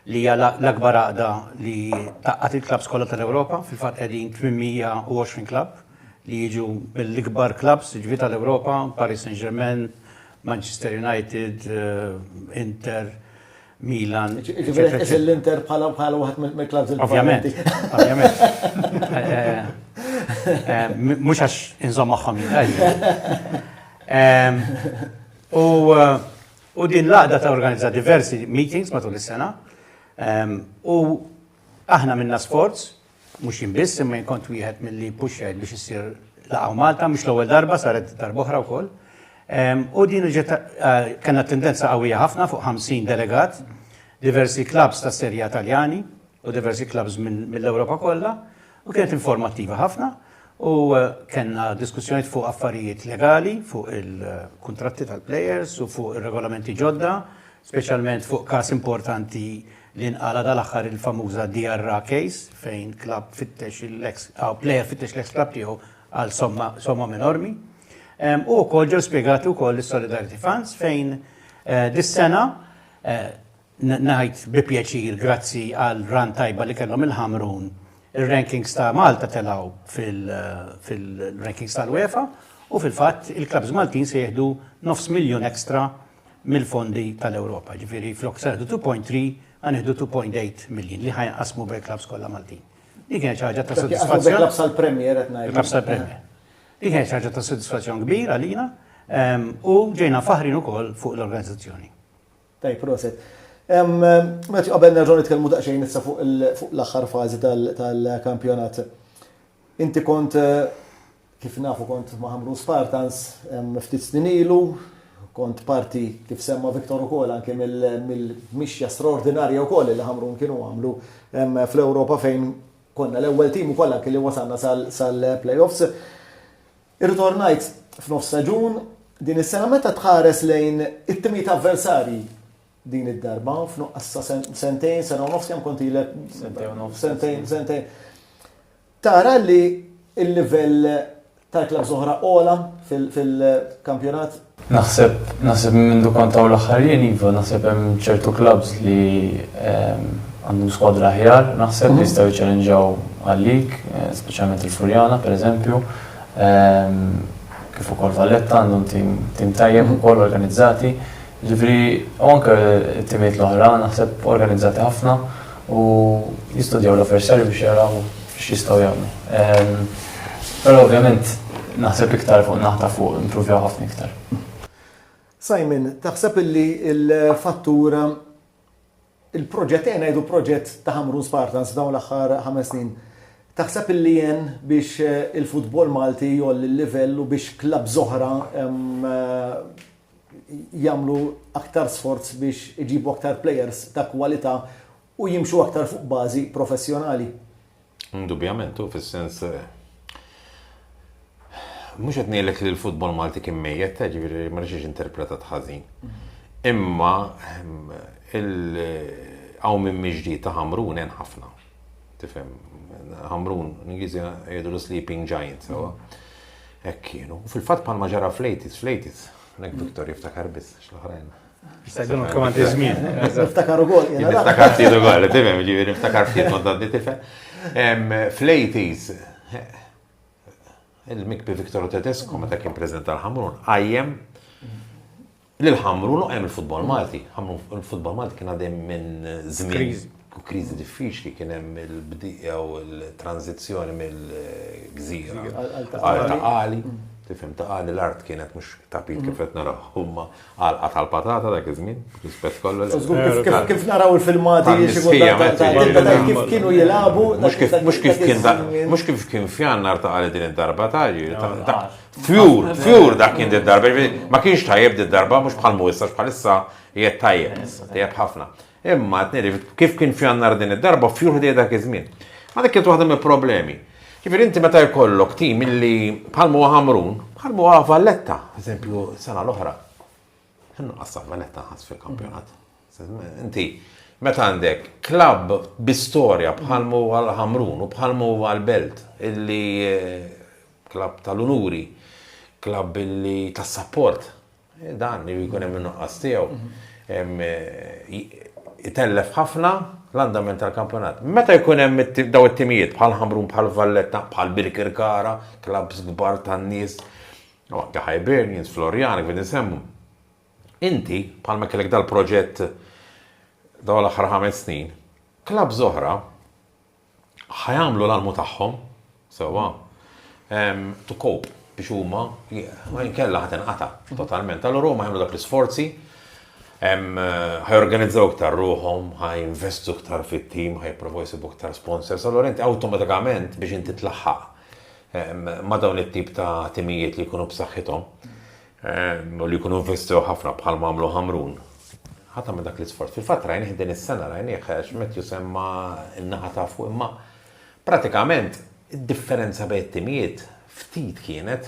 li hija l-akbar għaqda li tgħaqqad il-clubs kollha tal-Ewropa. Fil-fatt qegħdin 820 club li jiġu mill-ikbar clubs jiġifieri tal-Ewropa, Paris Saint-Germain, Manchester United, Inter, Milan. Ġifieri qed tqis l-Inter bħala wieħed mill-klabbs il-kbar. Ovvjament. Ovvjament. Mhux għax inżomm magħhom jien. U din l-għaqda ta' organizza diversi meetings matul is-sena. U aħna minna sforz Mhux jien biss, imma jien kont wieħed milli ppuxxajt biex issir Laqgħa Malta, mhux l-ewwel darba saret darba oħra wkoll. U din ġiet kellna tendenza qawwija ħafna fuq 50 delegat, diversi klabbs ta' serja Taljani u diversi klabbs mill-Ewropa kollha u kienet informattiva ħafna u kellna diskussjonijiet fuq affarijiet legali, fuq il-kuntratti tal-plejers u fuq ir-regolamenti ġodda, speċjalment fuq każ importanti li nqala' dal-aħħar il-famuża DRA case fejn klabb fittex l-eks, aw plejer fittex l-eks klabb tiegħu għal somma, sommom enormi. U wkoll ġew spjegati wkoll is-Solidarity Funds fejn eh, dis-sena eh, ngħid bi pjaċir grazzi għal ran tajba li kellhom il-Ħamrun ir-rankings ta' Malta telaw fil-rankings eh, tal-UEFA u fil-fatt il-klabs Maltin se jieħdu nofs miljun ekstra mill-fondi tal-Ewropa. Ġifieri flok se nieħdu 2.3 ħa nieħdu 2.8 miljin li ħajnqasmu bejn-klabbs kollha Maltin. Dik kienet xi ħaġa ta' sodisfazzjon. Bejn-klabbs tal-Premier qed ngħid. Klabbs tal-Premier. Dik kienet xi ħaġa ta' sodisfazzjon kbir għalina ehm, u ġejna faħrin ukoll fuq l-organizzazzjoni. Tajb, proset. Meta qabel nerġgħu nitkellmu daqsxejn issa fuq l-aħħar fażi tal-kampjonat. Inti kont eh, Kif nafu kont ma' Ħamrun Spartans ftit snin ilu, kont parti kif semma Victor ukoll anke mill-mixja straordinarja wkoll li Ħamrun kienu għamlu fl-Ewropa fejn konna l-ewwel tim ukoll anke li wasalna sal-playoffs. Irritornajt f'nofs staġun din is-sena meta tħares lejn it-timijiet avversarji din id-darba f'nuqqas ta' sentejn, sena u nofs kemm kont ilek? Sentejn u nofs. Sentejn, sentejn. Tara li l-livell tal-klabbs oħra għola fil-kampjonat? Naħseb, naħseb minn mindu kont hawn l-aħħar jien iva, naħseb hemm ċertu klabbs li għandhom skwadra aħjar, naħseb li jistgħu jċellenġaw għalik, speċjalment il-Furjana pereżempju kif ukoll Valletta għandhom tim tajjeb ukoll organizzati. Ġifri, u anke t-timiet l-oħra, naħseb organizzati ħafna u jistudjaw l-avversarju biex jaraw x'jistgħu jagħmlu. Ehm, però ovvjament naħseb iktar fuq naħta fuq improvjaw ħafna iktar. Simon, taħseb illi il-fattur Il-proġett, ejja ngħidu proġett ta' Ħamrun Spartans f'dawn l-aħħar ħames snin, taħseb illi għen biex il-futbol Malti jgħolli l-livell u biex clubs oħra jagħmlu aktar sforz biex iġibu aktar players ta' kwalità u jimxu aktar fuq bażi professjonali? Indubjament u fis-sens mhux qed ngħidlek li l-futbol Malti kien mejjet, ta' ġifieri ma rridx interpretat ħażin. Imma ehm, il-għaw minn miġdi ta' Hamrun hemm ħafna. Tifhem, Hamrun, l-Ingliżi jgħidu l-sleeping giant, sewa. Hekk kienu. Fil-fatt palma ġara flejtis, flejtis, nek Victor jiftakar biss, x'l-oħrajn. Sejdun kman tiżmin. Niftakar u għol. Niftakar ftit u għol, timem, ġivir, niftakar ftit u għol, tife. Fl-80s, il-mikbi Viktor Tedesco, meta kien prezident tal-ħamrun, għajjem l-ħamrun u għem il-futbol Malti. Il-futbol Malti kien għadem minn zmin krizi diffiċli kien hemm il-bdija u l-tranzizzjoni mill-gżira għal ta' għali. Mm tifhem ta' għali l-art kienet mhux tapit kif qed naraw huma Għalqa tal-patata dak iż-żmien, rispett kollu. Kif naraw il-filmati kif kienu jilagħbu. Mhux kif kien mhux kif kien fjannar ta' għal din id-darba ta' fjur, fjur dak kien id-darba. Ma kienx tajjeb id-darba mhux bħal mhuwissa bħalissa jgħid tajjeb, tajjeb ħafna. Imma, qed ngħid, kif kien f'Jannar din id-darba, f'Julju dejjem dak iż-żmien. Ma dik kienet waħda mill-problemi. Ġifieri inti meta jkollok tim illi bħal huwa Ħamrun, bħal huwa Valletta, eżempju, sena l-oħra. Ħinnu qassam Valletta ħass fil-kampjonat. Inti, meta għandek klabb bi storja bħal huwa l-Ħamrun u bħal huwa l-Belt, illi eh, klabb tal-unuri, klabb illi tas-sapport, Dan li jkun hemm in-nuqqas tiegħu itellef ħafna l-andament tal-kampjonat. Meta jkun hemm daw it-timijiet bħal Ħamrun, bħal Valletta, bħal Birkirkara, klabs kbar tan-nies, anke Hibernians, Florian, kif insemmu. Inti bħalma kellek dal-proġett daw l-aħħar ħames snin, klabs oħra ħa jagħmlu l-almu tagħhom, sewwa, to cope biex huma inkella ħadd inqata' totalment. Allura huma jagħmlu dak l-isforzi ħajorganizzaw iktar ruħom, ħajinvestu iktar fit-tim, ħajprovaw jisibu iktar sponsors, allora inti awtomatikament biex inti tlaħħaq ma dawn it-tip ta' timijiet li jkunu b'saħħithom, u li jkunu investew ħafna bħal mamlu ħamrun. Ħata minn dak l-isforz. Fil-fatt rajnih din is-sena rajnih għax met jusemma n-naħa ta' fuq imma pratikament id-differenza bejn timijiet ftit kienet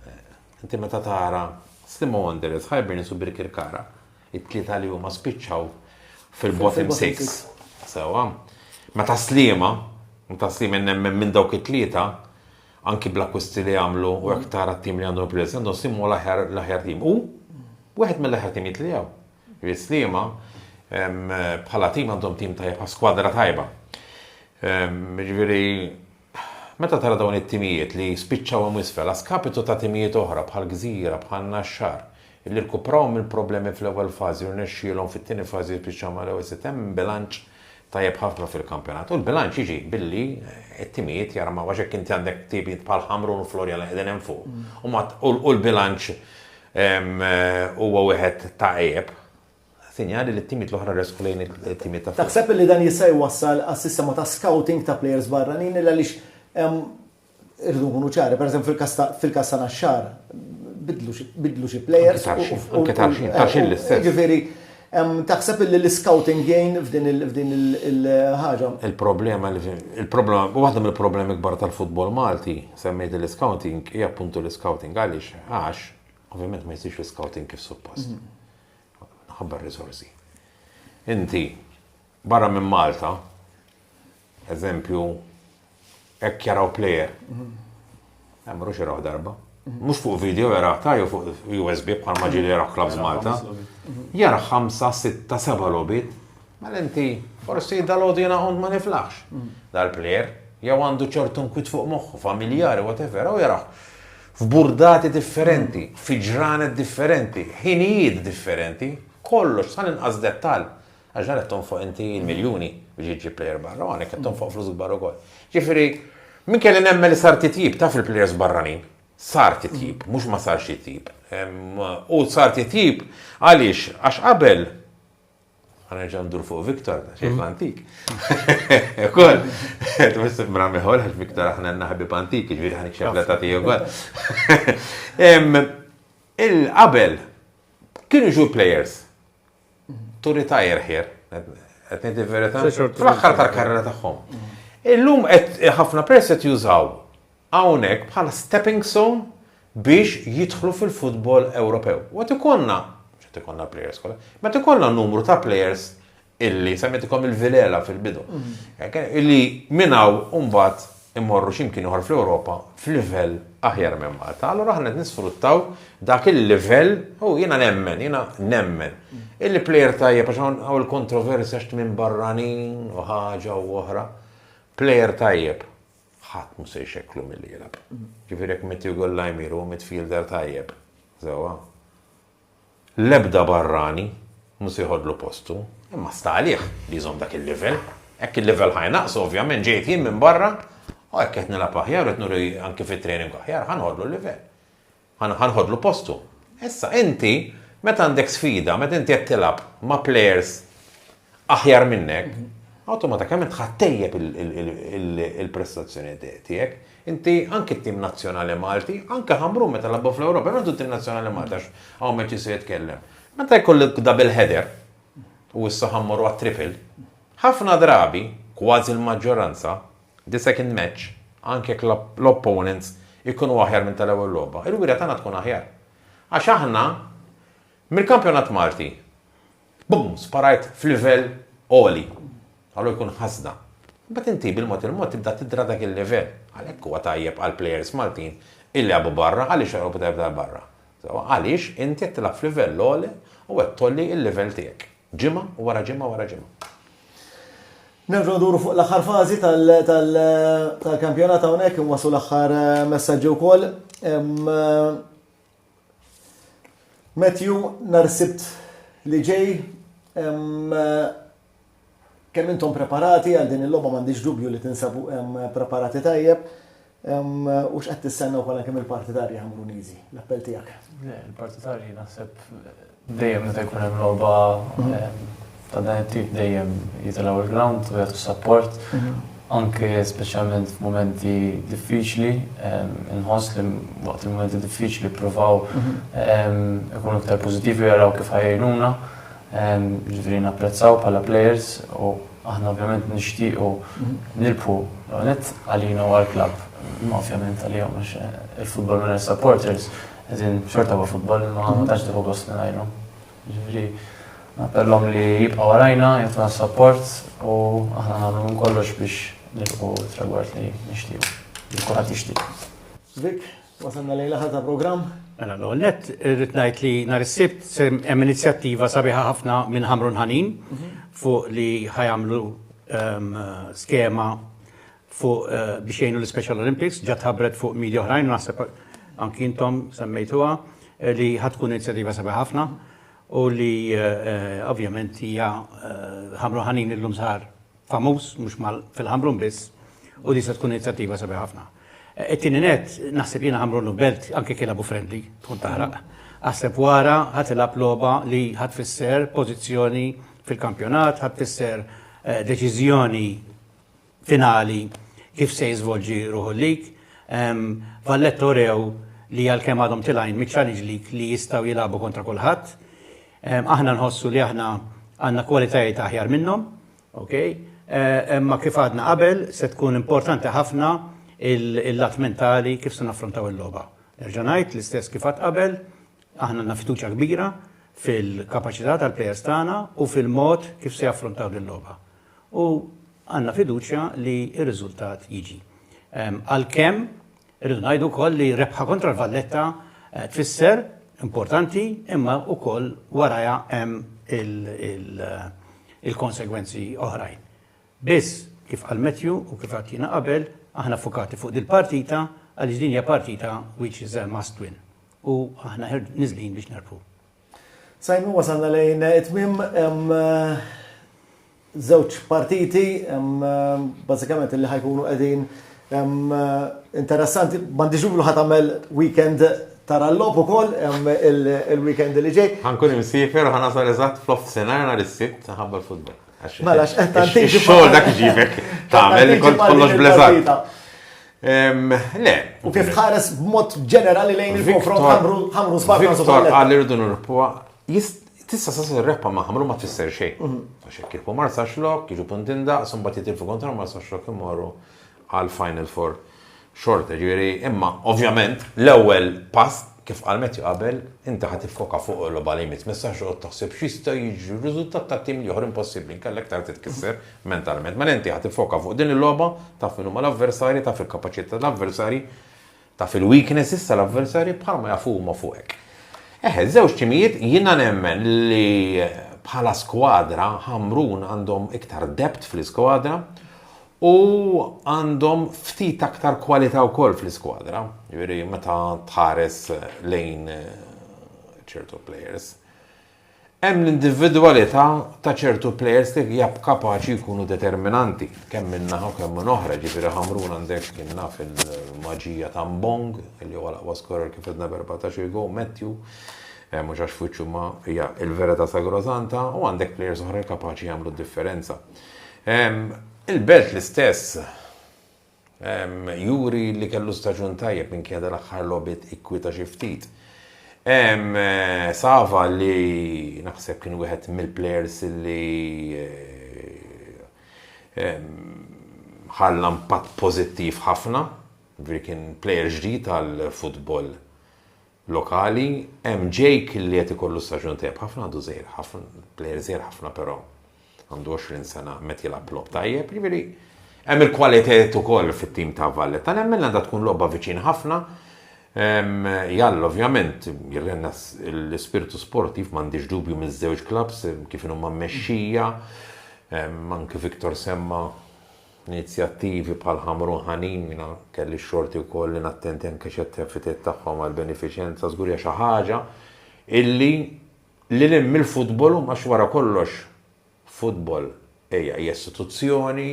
eh, inti meta tara Slimo Wanderers, Hibernians u Birkirkara, it-tlieta li huma spiċċaw fil-bottom 6. Sewa, meta Slima, meta Slima nemmen minn dawk it-tlieta, anki bl-akkwisti li għamlu u jekk tara t-tim li għandhom il-players li għandhom Sliema huwa l-aħjar l-aħjar tim. Hu wieħed mill-aħjar timijiet li hawn. Jiġifieri Sliema bħala tim għandhom tim tajjeb bħal skwadra tajba. Jiġifieri meta tara dawn it-timijiet li spiċċaw hemm isfel għaskapitu ta' timijiet oħra bħal Gżira, bħal Naxxar, li rkupraw mill-problemi fl-ewwel fażi u rnexxielhom fit-tieni fażi jispiċċaw mal-ewwel sitt hemm bilanċ tajjeb ħafna fil-kampjonat. U l-bilanċ jiġi billi t-timijiet jarmaw għax jekk inti għandek timijiet bħal Ħamrun u Florian li qegħdin hemm fuq u ma u l-bilanċ huwa wieħed ta' għejjeb, sinjali li t-timijiet l-oħra jressqu lejn it-timijiet ta' fuq. Taħseb li dan jista' jwassal għas-sistema ta' scouting ta' players barranin għaliex hemm Irridu nkunu ċari, pereżempju fil-każ ta' fil-każ ta' Naxxar, bidlu xi bidlu xi plejers. Anke Tarxin, anke Tarxin, Tarxin l-istess. Jiġifieri, taħseb illi l-iscouting jgħin f'din il f'din il il-ħaġa? Il-problema li il-problema waħda mill-problemi kbar tal-futbol Malti, semmejt l-iscouting, hija appuntu l-iscouting. Għaliex? Għax, ovvjament ma jsirx l-iscouting kif suppost. Minħabba r-riżorsi. Inti Barra minn Malta, eżempju, hekk jaraw plejer. Hemm mhux jaraw darba. Mhux fuq video jaraw ta' jew fuq USB bħal ma ġieli jaraw Clubs Malta. Jara ħamsa, sitta, seba' logħbiet. Mela inti forsi dal-għodu jiena kont ma niflaħx. Mm. Dal-plejer jew għandu ċertu nkwit fuq moħħu, familjari, whatever, u jaraw f'burdati differenti, fi ġranet differenti, ħinijiet differenti, kollox sal inqas dettal. Għax dan qed tonfoq inti l-miljuni biex iġġib plejer barra u hawnhekk qed tonfoq flus kbar ukoll. Ġifieri, min kelli nemmen li sar titjib taf il-plejers barranin, sar titjib, mhux ma sarx titjib. U sar titjib għaliex għax qabel Għanerġa ndur fuq Viktor, xejn mm. antik. Kol, twiss mra miħol, għax Viktor aħna naħbib antik, ġviri ħanik xebla ta' tiju għal. Il-qabel, kienu ġu players, turi ta' irħir, qed ngħid il-verità, fl-aħħar tal-karriera tagħhom. Illum qed ħafna pers qed jużaw hawnhekk bħala stepping stone biex jidħlu fil-futbol Ewropew. U qed ikollna, qed ikollna players kollha, ma ikollna numru ta' players illi semmitikom il-vilela fil-bidu. Mhm. Illi minnaw mbagħad immorru xi mkien ieħor fl-Ewropa f'livell aħjar minn Malta. Allura aħna qed nisfruttaw dak il-livell u jiena nemmen, jiena nemmen. Illi plejer tajjeb għax hawn il-kontroversja x'ti minn barranin u ħaġa u oħra. Plejer tajjeb ħadd mhux se jxekklu milli jilgħab. Ġifieri jekk Matthew Gollajmir huwa midfielder tajjeb, sewwa. L-ebda barrani mhu se jħoddlu postu, imma sta għalih li jżomm dak il-livell. Hekk il-livell ħa jnaqqsu ovvjament ġejt jien minn barra u hekk qed nilgħab aħjar u qed nuri anki fit-training aħjar ħa nħoddlu l-livell. Ħa nħoddlu postu. Issa inti meta għandek sfida, meta inti qed tilgħab ma' players aħjar minnek, awtomatikament tħa ttejjeb il-prestazzjoni tiegħek. Inti anke t-tim nazzjonali Malti, anke ħamru meta labbu fl-Ewropa, għandu t-tim nazzjonali Malti għax hawn meċi se jitkellem. Meta jkollok double header u issa ħammur għat triple, ħafna drabi, kważi l-maġġoranza, the second match, anke l-opponents ikunu aħjar minn tal-ewwel logħba. Il-wira tagħna tkun aħjar. Għax aħna mill-kampjonat Malti Bumm! Sparajt f'livell għoli. Allo jkun ħasda. Imbagħad inti bil-mod il-mod tibda tidra dak il-livell. Għalhekk huwa tajjeb għall-plejers Maltin illi jilagħbu barra, għaliex jilagħbu tajjeb ta' barra? Sewwa għaliex inti qed tilgħab f'livell għoli u qed tgħolli l-livell tiegħek ġimgħa wara ġimgħa wara ġimgħa. Nerġgħu nduru fuq l-aħħar fażi tal-kampjonat hawnhekk inwasslu l-aħħar messaġġi wkoll. Matthew, nhar is-Sibt li ġej, kemm intom preparati għal din il-logħba m'għandix dubju li tinsabu preparati tajjeb. U x'qed tistennew bħala kemm il-partitarji Ħamruniżi? L-appell tiegħek. Il-partitarji naħseb Dejjem meta jkun hemm logħba ta' dan it-tip dejjem jitilgħu l-ground u jagħtu support anke speċjalment f'mumenti diffiċli, inħoss li waqt il-mumenti diffiċli provaw ikunu iktar pożittivi u jaraw kif ħajjnuna, ġifieri napprezzaw bħala players u aħna ovvjament nixtiequ nilbħu l-għaniet għalina u għall-klabb, imma ovvjament għalihom għax il-futbol mingħajr supporters. Għazin, xorta huwa futbol, ma ma tax tiħu gost mingħajru. Ġifieri, nappellhom li jibqa' warajna, jitna support u aħna nagħmlu minn kollox biex nilqu tragward li nixtiequ. Li kulħadd jixtieq. Vik, wasalna lejla ħata programm. Mela l net irrid ngħid li nhar is-sibt hemm inizjattiva sabiħa ħafna minn Ħamrun Ħanin mhm. fuq li ħajamlu ehm, skema fuq biex jgħinu l-Special Olympics, ġat ħabret fuq media oħrajn, naħseb anki intom semmejtuha, li ħatkun inizjativa sabi ħafna u li ovvjament hija ħamru ħanin illum sar famuż mhux fil-ħamrun biss u li se tkun inizjattiva sabi ħafna. It-tieni net, naħseb jiena ħamrun u belt anke kien abu friendly, tkun taħraq. Aħseb wara ħadd ilgħab logħba li ħadd tfisser pożizzjoni fil-kampjonat, ħadd tfisser deċiżjoni finali kif se jiżvolġi ruħu l-lig. Valletta urew li għalkemm għadhom tilgħin miċ-Challenge League li jistgħu jilagħbu kontra kulħadd. Aħna nħossu li aħna għandna kwalitajiet aħjar minnhom, okej? Imma kif għadna qabel se tkun importanti ħafna l-lat mentali kif se naffrontaw il-logħba. Nerġa' ngħid l-istess kif għad qabel, aħna għandna fiduċja kbira fil-kapaċità tal-plejers tagħna u fil-mod kif se jaffrontaw din il-logħba. u għandna fiduċja li r-riżultat jiġi. Għalkemm irridu ngħidu wkoll li rebħa kontra l-Valletta tfisser importanti imma wkoll warajha hemm il-konsegwenzi oħrajn. Biss, kif qal Matthew u kif għidt jiena qabel, aħna ffukati fuq dil-partita għaliex din hija partita which is a must win u aħna niżlin biex nerbħu. Simon, wasalna lejn it-tmim, żewġ partiti, bażikament li ħajkunu qegħdin interessanti, m'għandix dubju ħadd tagħmel weekend tara l-logħob ukoll il-weekend li ġej. Ħankun imsiefer u ħanasal eżatt fl-off senar nhar is-Sibt ħabba l-futbol. Mela, x'qed tagħti xogħol dak iġibek tagħmel kont kollox bleżat. Le. U kif tħares b'mod ġenerali lejn il-konfront ħamru sbagħ Viktor qal irridu nirpuha tista' sa rebħa ma ħamru ma tfisser xejn. Mhm. Għax hekk kieku marsa xlok, jiġu puntin daqs, imbagħad jitilfu kontra marsa xlok imorru għal Final Four xorta, ġifieri imma ovvjament l-ewwel pass kif qal Matthew qabel inti ħa tiffoka fuq il-logħba li jmiss, m'issax toqgħod taħseb x'jista' jiġri, r-riżultat ta' tim l-ieħor impossibbli inkella iktar titkisser mentalment. Mela inti ħa tiffoka fuq din il-logħba, taf min huma l-avversarji, taf il-kapaċità tal-avversarji, Taf il-weaknesses tal-avversarji bħalma jafu huma fuqek. Eħe, żewġ timijiet jiena nemmen li bħala skwadra Ħamrun għandhom iktar depth fl-iskwadra u għandhom ftit aktar kwalità wkoll fl-iskwadra, jiġifieri meta tħares lejn ċertu players. Hemm l-individwalità ta' ċertu plejers li jab kapaċi jkunu determinanti kemm minn naħa u kemm minn oħra, jiġifieri Ħamrun għandek kien naf il-maġija ta' Mbong li huwa l-aqwa skorer kif għedna b'erbatax il gow, Matthew, mhux għax f'wiċċu imma hija l-verità sagrosanta, u għandek plejers oħra li kapaċi jagħmlu d-differenza. Il-Belt l-istess. Juri li kellu staġun tajjeb minkejja dal-aħħar logħbiet ikkwieta xi ftit. Sava li naħseb kien wieħed mill-plejers li ħalla impatt pożittiv ħafna, ġifieri kien plejer ġdid għall-futbol lokali, hemm Jake li qed ikollu staġun tajjeb ħafna għadu żgħir ħafna, plejer żgħir ħafna però għandu 20 sena qed jilgħab logħob tajjeb, jiġifieri hemm il-kwalitajiet ukoll fit-tim ta' Valletta nemmen għandha tkun logħba viċin ħafna. Jall ovvjament jirrenna l-ispirtu sportiv m'għandix dubju miż-żewġ klabbs kif inhuma mmexxija, anke Victor semma Inizjattivi bħal Ħamrun Ħanin, jiena kelli x-xorti wkoll li nattendi anke xi attivitajiet tagħhom għall-benefiċenza, żgur hija xi ħaġa illi lil hinn mill-futbol huma għax wara kollox futbol hija hija istituzzjoni,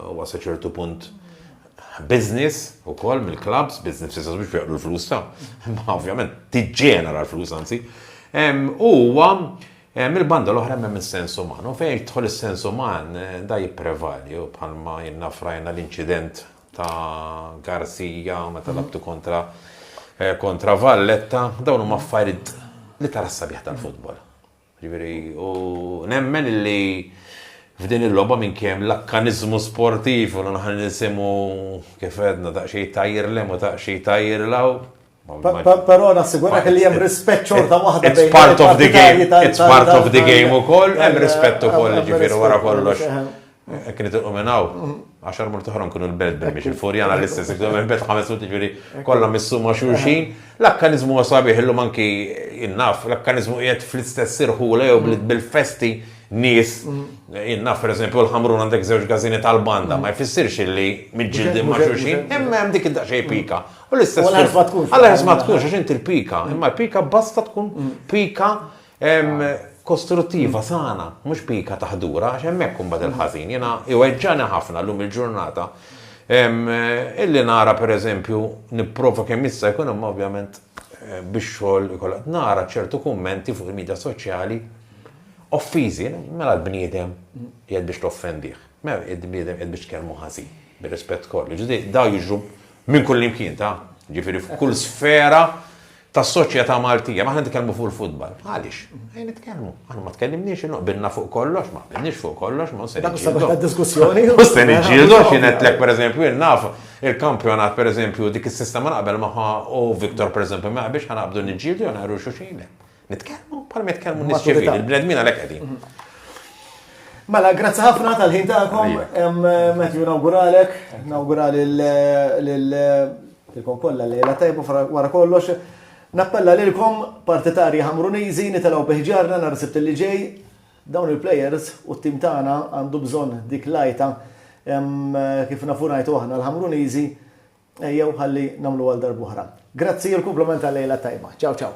huwa sa ċertu punt business ukoll mill-clubs, business f'sens mhux biex l-flus ta', imma ovvjament tiġġenera l-flus anzi. Huwa Mill-banda l-oħra hemm hemm is-sens uman u fejn jidħol is-sens uman da jipprevali u bħalma ilna frajna l-inċident ta' Garcia meta labtu kontra kontra Valletta, dawn huma affarijiet li tara s-sabiħ tal-futbol. Ġifieri u nemmen li f'din il-logħba minn kemm l-akkaniżmu sportiv u l-nħan nisimgħu kif għedna daqsxejn tajjirlem u daqsxejn tajjirlaw, Però nassigurak li hemm rispett xorta waħda bejn part of the game, it's part of the game ukoll, hemm rispett ukoll ġifieri wara kollox. Hekk li tilqu minn hawn, mm. għaxar mur toħra nkunu l-belt biex il-furjana l-istess, iktar minn belt ħames mur ġifieri kollha missuma xulxin. L-akkaniżmu sabiħ illum anki innaf, l-akkaniżmu qiegħed fl-istess irħula jew mm. bil-festi nis, mm. innaf per eżempju l-ħamrun għandek zewġ gazini tal-banda, ma jfissirx li mġildi ma xulxin, hemm dik id-daqxej pika. U l-istess. U l-ħarf ma tkunx. Għal-ħarf ma tkunx, għax inti l-pika. Imma l-pika basta tkun mm. pika kostruttiva sana, mhux pika taħdura, għax hemmhekk imbagħad il-ħażin. Jiena iweġġani ħafna llum il-ġurnata. Illi nara pereżempju nipprova kemm issa jkun hemm ovvjament eh, biex xogħol ikollha nara ċertu kummenti fuq il-medja soċjali offiżi, mela l-bniedem jgħid biex toffendih. Mela l-bniedem jgħid biex kelmu ħażin, bir-rispett kollu. Ġudi, daw jiġru Minn kullimkien ta', ġifieri f'kull sfera tas-soċjetà Maltija. Ma aħna nitkellmu fuq il-futbal. Għaliex? Ejn nitkellmu. Aħna ma tkellimniex inhu qbilna fuq kollox, ma qbilniex fuq kollox, ma se niġġieldu. diskussjoni. Mhux se niġġieldu għax jinetlek pereżempju jien naf il-kampjonat pereżempju dik is-sistema naqbel magħha u Viktor pereżempju ma jaqbilx ħanaqbdu niġġieldu jew naqru xuxin. Nitkellmu bħal ma jitkellmu nies ċivili, il-bnedmin għalhekk qegħdin. Mela, grazzi ħafna tal-ħin tagħkom. Matthew nawguralek, nawgurali l-kom kollha lejla tajbu wara kollox. Nappella lilkom partitarji ħamruniżi nitilgħu biħġarna nhar sibt li ġej dawn il-players u t-tim tagħna għandu bżonn dik lajta kif nafu ngħidu aħna l-ħamruniżi jew ħalli nagħmlu għal darbuħra. Grazzi l-kumplament tal-lejla tajba. Ciao ciao.